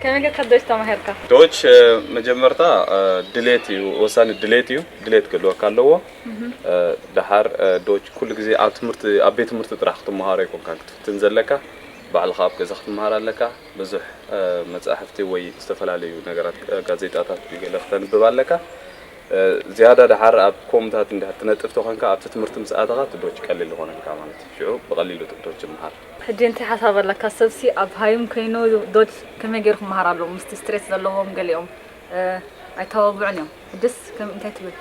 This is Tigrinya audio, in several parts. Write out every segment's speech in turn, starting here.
ከመይ ጌርካ ዶች ተማሂርካ? ዶች መጀመርታ ድሌት እዩ ወሳኒ ድሌት እዩ ድሌት ክህልወካ ኣለዎ ደሓር ዶች ኩሉ ግዜ ኣብ ትምህርቲ ኣብ ቤት ትምህርቲ ጥራሕ ክትመሃሮ ኣይኮንካን ክትፍትን ዘለካ ባዕልኻ ኣብ ገዛ ክትመሃር ኣለካ ብዙሕ መጻሕፍቲ ወይ ዝተፈላለዩ ነገራት ጋዜጣታት ወይ ገለ ክተንብብ ኣለካ ዝያዳ ደሓር ኣብ ኮምታት እንድሕር ትነጥፍ ተኾንካ ኣብቲ ትምህርቲ ምስ ኣተኻ እቲ ዶች ቀሊል ይኾነልካ ማለት እዩ ሽዑ ብቐሊሉ ዶች ምሃር ሕጂ እንታይ ሓሳብ ኣለካ ሰብሲ ኣብ ሃይም ከይኑ ዶጅ ከመይ ገይሩ ክመሃር ኣለዎ ምስቲ ስትሬስ ዘለዎም ገሊኦም ኣይተባብዑን እዮም ሕጅስ ከም እንታይ ትብል።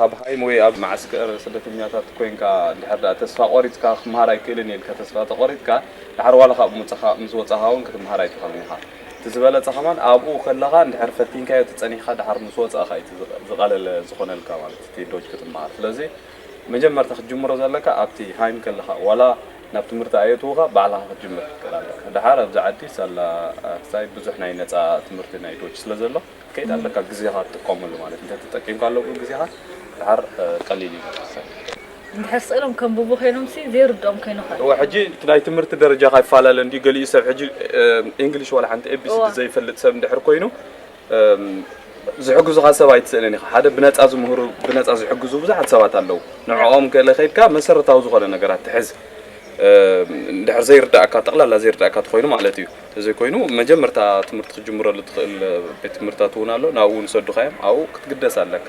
ኣብ ሃይም ወይ ኣብ መዓስከር ስደተኛታት ኮይንካ እንድሕር ድኣ ተስፋ ቆሪጽካ ክመሃር ኣይክእልን እየ ኢልካ ተስፋ ተቆሪጽካ ድሓር ዋላ ካብ ምውጻኻ ምስ ወጻኻ ውን ክትመሃር ኣይትኽእልን ኢኻ እቲ ዝበለጸ ከማን ኣብኡ ከለኻ እንድሕር ፈቲንካዮ ተጸኒሕካ ድሓር ምስ ወጻእካ እዩ እቲ ዝቀለለ ዝኾነልካ ማለት እቲ ዶጅ ክትመሃር ስለዚ መጀመርታ ክትጅምሮ ዘለካ ኣብቲ ሃይም ከለካ ዋላ ናብ ትምህርቲ ኣየእትውካ ባዕልካ ክትጅምር ክትክእል ኣለካ ደሓር ኣብዚ ዓዲ ሳላ ክሳይ ብዙሕ ናይ ነጻ ትምህርቲ ናይ ዶች ስለ ዘሎ ክትከይድ ኣለካ ግዜካ ትጥቀመሉ ማለት እንተ ተጠቂምካ ሎሚ ግዜካ ደሓር ቀሊል እዩ ማለት ክሳይ እንድሕር ስእሎም ከንብቡ ኮይኖም ሲ ዘይርድኦም ኮይኑ ከ እወ ሕጂ እቲ ናይ ትምህርቲ ደረጃካ ይፈላለ እንድዩ ገሊኡ ሰብ ሕጂ ኢንግሊሽ ዋላ ሓንቲ ኤቢሲዲ ዘይፈልጥ ሰብ እንድሕር ኮይኑ ዝሕግዙኻ ሰብ ኣይትስእንን ኢኻ ሓደ ብነጻ ዝምህሩ ብነጻ ዝሕግዙ ብዙሓት ሰባት ኣለዉ ንዕኦም ገለ ከይድካ መሰረታዊ ዝኾነ ነገራት ትሕዝ ድሕር ዘይርዳእካ ጠቕላላ ዘይርዳእካ ትኾይኑ ማለት እዩ እዘይ ኮይኑ መጀመርታ ትምህርቲ ክጅምረሉ ትኽእል ቤት ትምህርታት እውን ኣሎ ናብኡ ንሰዱኻ እዮም ኣብኡ ክትግደስ ኣለካ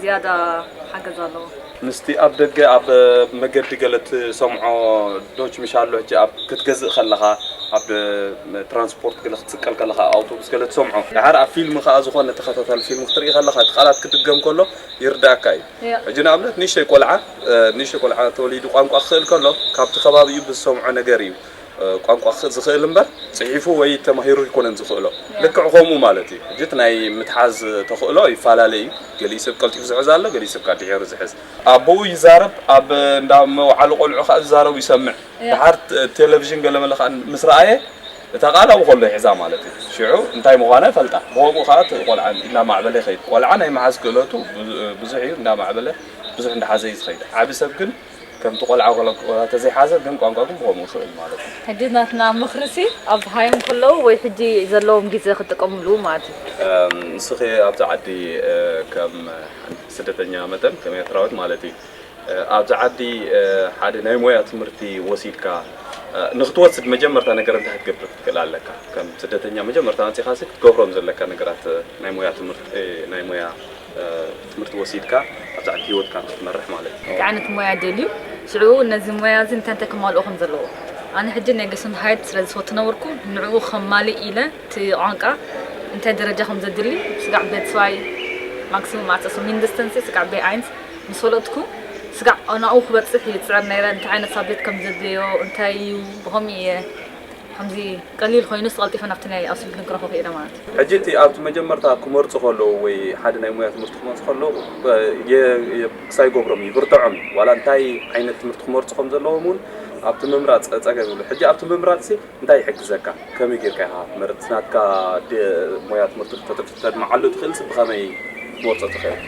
ዝያዳ ሓገዝ ኣለዎ። ምስቲ ኣብ ደገ ኣብ መገዲ ገለ ትሰምዖ ዶች ምሽ ኣሎ ሕጂ ኣብ ክትገዝእ ከለኻ ኣብ ትራንስፖርት ገለ ክትስቀል ከለኻ ኣብ ኣውቶቡስ ገለ ትሰምዖ ደሓር ኣብ ፊልም ከኣ ዝኾነ ተኸታታሊ ፊልም ክትርኢ ከለኻ እቲ ቃላት ክድገም ከሎ ይርድኣካ እዩ ሕጂ ንኣብነት ንእሽተይ ቆልዓ ንእሽተይ ቆልዓ ተወሊዱ ቋንቋ ክኽእል ከሎ ካብቲ ከባቢኡ ብዝሰምዖ ነገር እዩ ቋንቋ ዝኽእል እምበር ጽሒፉ ወይ ተማሂሩ ኣይኮነን ዝኽእሎ። ልክዕ ከምኡ ማለት እዩ። ሕጂ እቲ ናይ ምትሓዝ ተኽእሎ ይፈላለ እዩ። ገሊኡ ሰብ ቀልጢፉ ዝሕዝ ኣሎ፣ ገሊኡ ሰብ ከኣ ድሒሩ ዝሕዝ። ኣቦኡ ይዛረብ፣ ኣብ እንዳ መውዓሊ ቆልዑ ከኣ ዝዛረቡ ይሰምዕ። ደሓር ቴለቭዥን ገለመለ ከኣ ምስ ረኣየ እታ ቃል ኣብኡ ከሎ ይሕዛ ማለት እዩ። ሽዑ እንታይ ምዃና ይፈልጣ። ብኸምኡ ከኣ እቲ ቆልዓ እናማዕበለ ይኸይድ። ቆልዓ ናይ ምሓዝ ክእለቱ ብዙሕ እዩ፣ እንዳማዕበለ ብዙሕ እንዳሓዘ እዩ ዝኸይድ። ዓቢ ሰብ ግን። ከምቲ ቆልዓ ቆልዓ ተዘይሓዘ ግን ቋንቋ ግን ብኸምኡ ይኽእል ማለት እዩ። ሕጂ ናትና ምኽሪሲ ኣብ ሃዮም ከለዉ ወይ ሕጂ ዘለዎም ግዜ ክጥቀምሉ ማለት እዩ። ንስኺ ኣብዚ ዓዲ ከም ስደተኛ መጠን ከም ኤርትራዊት ማለትይ ኣብዚ ዓዲ ሓደ ናይ ሞያ ትምህርቲ ወሲድካ ንክትወስድ መጀመርታ ነገር እንታይ ክትገብር ክትክእል ኣለካ? ከም ስደተኛ መጀመርታ መጺኻሲ ክትገብሮም ዘለካ ነገራት ናይ ሞያ ትምህርቲ ናይ ሞያ ትምህርቲ ወሲድካ ኣብ ዛዕዲ ሂወትካ ንክትመርሕ ማለት እዩ። እንታይ ዓይነት ሞያ ደልዩ ሽዑ ነዚ ሞያ እዚ እንታይ እንታይ ከማልኦ ከም ዘለዎ ኣነ ሕጂ ናይ ገሱንድሃይት ስለ ዝፈትነብርኩ ንዑኡ ከማልእ ኢለ እቲ ቋንቃ እንታይ ደረጃ ከም ዘድሊ ስጋዕ ቤትስዋይ ማክሲሙም ኣሰሱ ሚንድስተንሲ ስጋዕ ቤ ኣይንስ ምስ ፈለጥኩ ስጋዕ ኣናኡ ክበጽሕ እየ ዝጽዕር ነይረ እንታይ ዓይነት ሳብጀክት ከም ዘድልዮ እንታይ እዩ ብኸምኡ እየ ከምዚ ቀሊል ኮይኑስ ቐልጢፈ ናብቲ ናይ ኣውሲ ፊልም ክረክቦ ክኢለ ማለት እዩ። ሕጂ እቲ ኣብቲ መጀመርታ ክመርጹ ከለዉ ወይ ሓደ ናይ ሞያ ትምህርቲ ክመርጹ ከለዉ የ ክሳ ይገብሮም እዩ ይብርትዖም እዩ ዋላ እንታይ ዓይነት ትምህርቲ ክመርጹ ከም ዘለዎም ውን ኣብቲ ምምራጽ ጸገም ይብሉ ሕጂ ኣብቲ ምምራጽሲ እንታይ ይሕግዘካ ከመይ ጌርካ ኢካ ክትመርጽ እቲ ናትካ ድ ሞያ ትምህርቲ ክተድምዓሉ ትክእልሲ ብከመይ ክትመርጾ ትክእል።